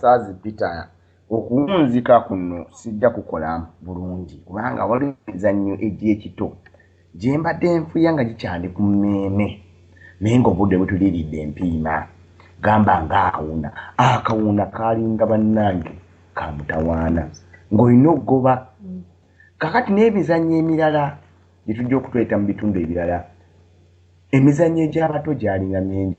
saazi peter okuwunzika kuno sijja kukola bulungi kubanga waliwo emizannyo egy'ekito gye mbadde nfuya nga gikyali ku mmeeme naye ng'obudde butuliridde empiima gamba ng'akawuna akawuna kaalinga bannange ka mutawaana ng'olina okugoba kakati n'emizannyo emirala gye tujja okutweta mu bitundu ebirala emizannyo egy'abato gyalinga mingi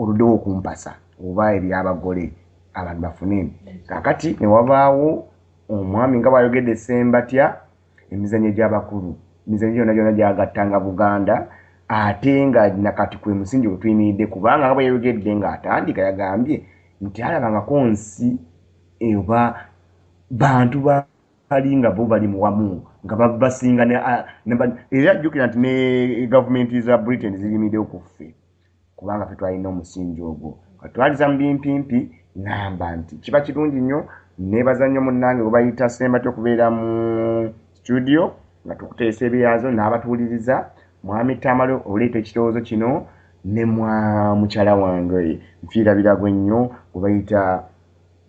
oludewo okumpasa oba ebyabagole abantu bafune kakati newabaawo omwami nga bwayogedde sembatya emizanyo gyabakulu emizanyo gyona gyona gyagattanga buganda ate nga nakati kwe musingi wetuyimiridde kubanga nga bweyayogedde nga atandika yagambye nti alabangako nsi eba bantu ba bali nga bo bali muwamu nga babasinga era jjukira nti ne gavumenti za britain ziyimidewo kuffe kubanga fe twalina omusingi ogwo twaliza mu bimpimpi ngamba nti kiba kirungi nnyo nebaza nnyo munnange gwe bayita sembati okubeera mu situdiyo nga tukuteesa ebyazo n'abatuwuliriza mwami tamale oleeta ekirowoozo kino ne mwa mukyala wange nfiirabiragwe nnyo gwe bayita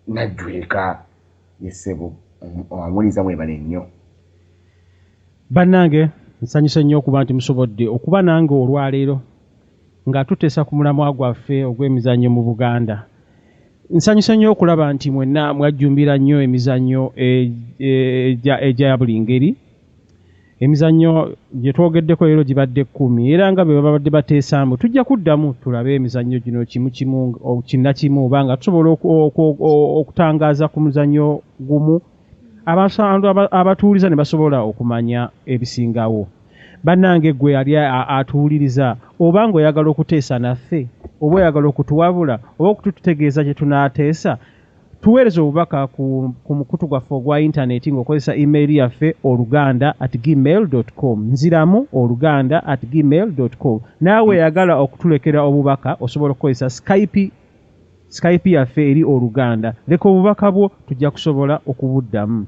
najjweka yesebo amuliza mwebale nnyo bannange nsanyuse nnyo okuba nti musobodde okuba nange olwaleero nga tuteesa ku mulamwa gwaffe ogw'emizannyo mu buganda nsanyuse nnyo okulaba nti mwenna mwajjumbira nnyo emizannyo egya buli ngeri emizannyo gye twogeddeko leero gibadde kkumi era nga bwe babadde bateesaamu tujja kuddamu tulabe emizannyo gino kimu kimu kinnakimu oba nga tusobola okutangaaza ku muzannyo gumu abantu abatuwuliza ne basobola okumanya ebisingawo bannange gwe yali atuwuliriza oba ng'oyagala okuteesa naffe oba oyagala okutuwabula oba okutututegeeza kye tunaateesa tuweereza obubaka ku, ku mukutu gwaffe ogwa intaneti ng'okozesa email yaffe oluganda at gmail com nziramu oluganda at gmail com naawe eyagala okutulekera obubaka osobola okukozesa skype skype yaffe eri oluganda leka obubaka bwo tujja kusobola okubuddamu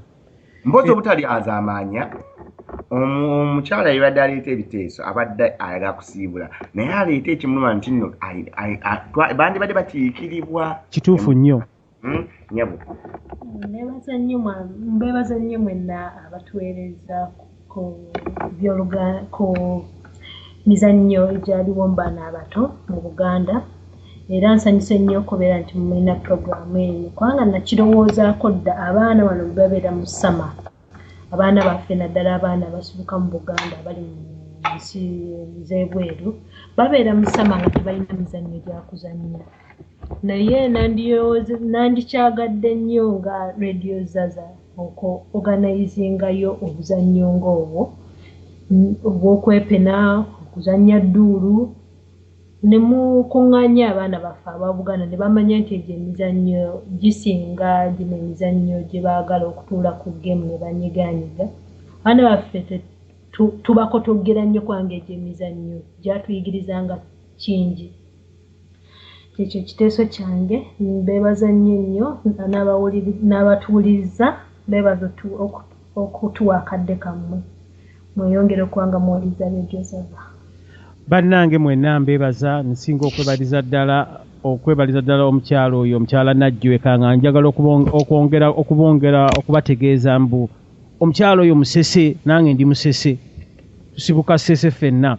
mpozi obutalyazaamaanya omukyala yebadde aleeta ebiteeso abadde ayagala kusiibula naye aleeta ekimuluma nti nno bandibadde bakiikiribwa kituufu nnyo hmm? nyabo mbebaza nnyo mwenna abatuweerezaako ku byoluga ku mizannyo egyaliwo mu baana abato mu buganda era nsanyuse nnyo okubeera nti mulina puroguramu eno kubanga nakirowoozaako dda abaana bano bebabeera mu sama abaana baffe naddala abaana abasibuka mu buganda abali mu nsi zebweru babeera mu sama nga tebalina mizannyo gyakuzannya Naye nandiyooz nandikyagadde nnyo nga Radio Zaza oko organizinga yo obuzannyo nga obwo obwokwepena, okuzannya dduulu ne mukungaanya abaana baffe aba Buganda ne bamanya nti egyo emizannyo gisinga gino emizannyo gye baagala okutuula ku ggemu ne banyigaanyiga. Abaana baffe te tu tubakotoggera nnyo kubanga egyo emizannyo gyatuyigirizanga kingi. Kyekyo ekiteeso kyange. Mbeebaza nnyo nnyo n'abatuwuliriza. Mbeebaza okutuwa akadde kammwe. Mweyongere okuba nga muwuliriza Radio Zava. Bannange mwenna mbeebaza. Nsinga okwebaliza ddala okwebaliza ddala omukyala oyo, omukyala Najjweka nga njagala okwongera okubongera okubategeeza mbu, omukyalo oyo musese nange ndi musese tusibuka sese fenna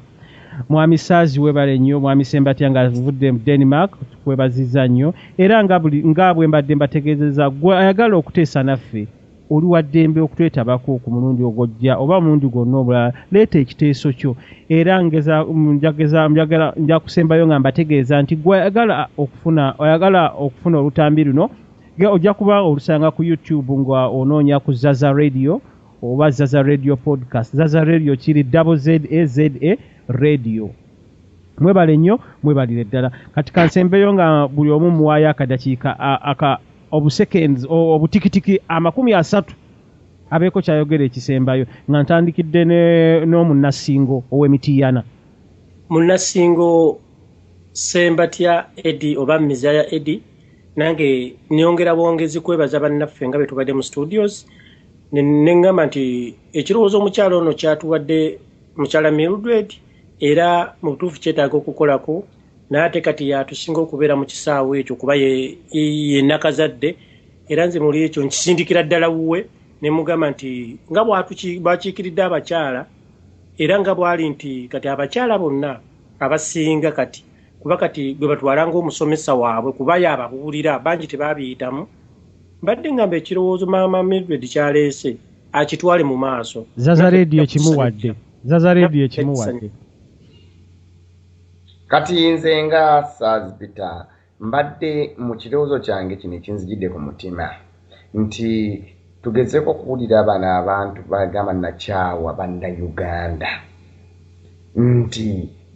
mwami saazi webale nnyo mwami sembatya nga vudde mu denmark kwebaziza nnyo era nga buli nga bwe mbadde mbategeezeza gwe ayagala okuteesa naffe oli wa ddembe okutwetabako ku mulundi ogwojja oba omulundi gwonna obulala leeta ekiteeso kyo era njakusembayo nga mbategeeza nti gwe ayagala okufuna ayagala okufuna olutambi luno Nga ojja kuba olusanga ku YouTube nga onoonya ku Zaza Radio oba Zaza Radio podcast. Zaza Radio kiri double Z A Z A Radio. Mwebale nnyo, mwebalire ddala. Kati kansembeyo nga buli omu muwaayo akadakiika aka obuseconds obutikitiki amakumi asatu abeeko kyayogera ekisembayo nga ntandikidde n'omunassingo ow'emitiyana. Munassingo Sembatya Eddie oba Mizaya Eddie. nange nyongera bwongezi kwebaza bannaffe nga betubadde mu studios neŋgamba nti ekirowoozo omukyalo ono kyatuwadde mukyala mildred era mu butuufu kyetaaga okukolako naate kati yatusinga okubeera mu kisaawo ekyo kuba yenakazadde era nze muli ekyo nkisindikira ddala wuwe nemugamba nti nga bwakiikiridde abakyala era nga bwali nti kati abakyala bonna abasinga kati kuba kati gwe batwala ng'omusomesa waabwe kuba yaababuulira bangi tebaabiyitamu mbadde ngamba ekirowoozo maama mildred kyaleese akitwale mu maaso zaza rediyo ekimuwadde zaza rediyo ekimuwadde kati nze nga saazipita mbadde mu kirowoozo kyange kino ekinzijidde ku mutima nti tugezeko okuwulira bano abantu bagamba nakyawa banna uganda nti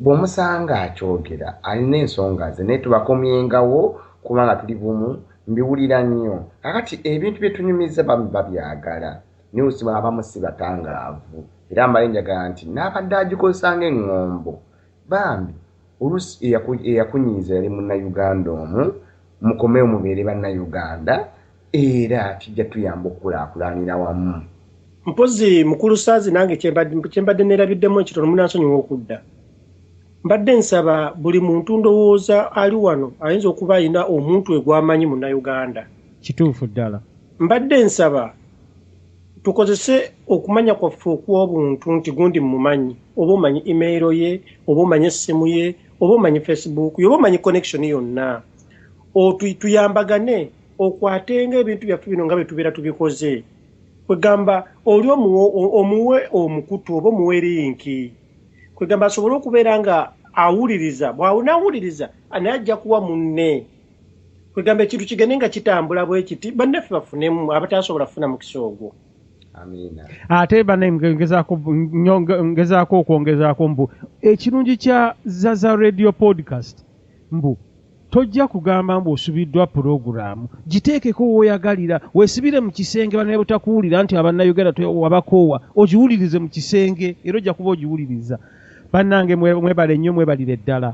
bwomusanga akyogera alina ensonga ze naye tubakomyengawo kubanga tuli bumu mbiwulira nnyo kakati ebintu byetunyumiza bami babyagala naye osiba abamu si batangaavu era mbale njagala nti naabadde agikozesa ngaeŋŋombo Bambi olusi eyakunyiiza yali munayuganda omu mukomewo mubeere banayuganda era kijja tuyamba okukulaakulanira wamu. Mpozi mukulu saazi nange kyembadde nerabiddemu ekitono munansonyiwa okudda mbadde nsaba buli muntu ndowooza ali wano ayinza okuba alina omuntu egwamanyi munauganda kituufu ddala mbadde nsaba tukozese okumanya kwaffe okw'obuntu nti gundi mumanyi oba omanyi email ye oba omanyi essimu ye oba omanyi facebook ye oba omanyi connection yonna tuyambagane okwatenga ebintu byaffe bino nga byetubeera tubikoze kwegamba oli omuwe omukutu oba omuwe linki kwegamba asobole okubeera nga awuliriza bwawunawuliriza naye ajja kuwa munne kwegamba ekintu kigende nga kitambula bwekiti bannaffe bafunemu abataasobola kufuna mukisa ogwo ate bane ngezaako okwongezaako mbu ekirungi kya zaza radio podcast mbu tojja kugamba mbu osubiddwa pulogulaamu giteekeko woyagalira wesibire mu kisenge banaye butakuwulira nti abannayuganda wabakoowa ogiwulirize mu kisenge era ojja kuba ogiwuliriza bannange mwebale nnyo mwebalire ddala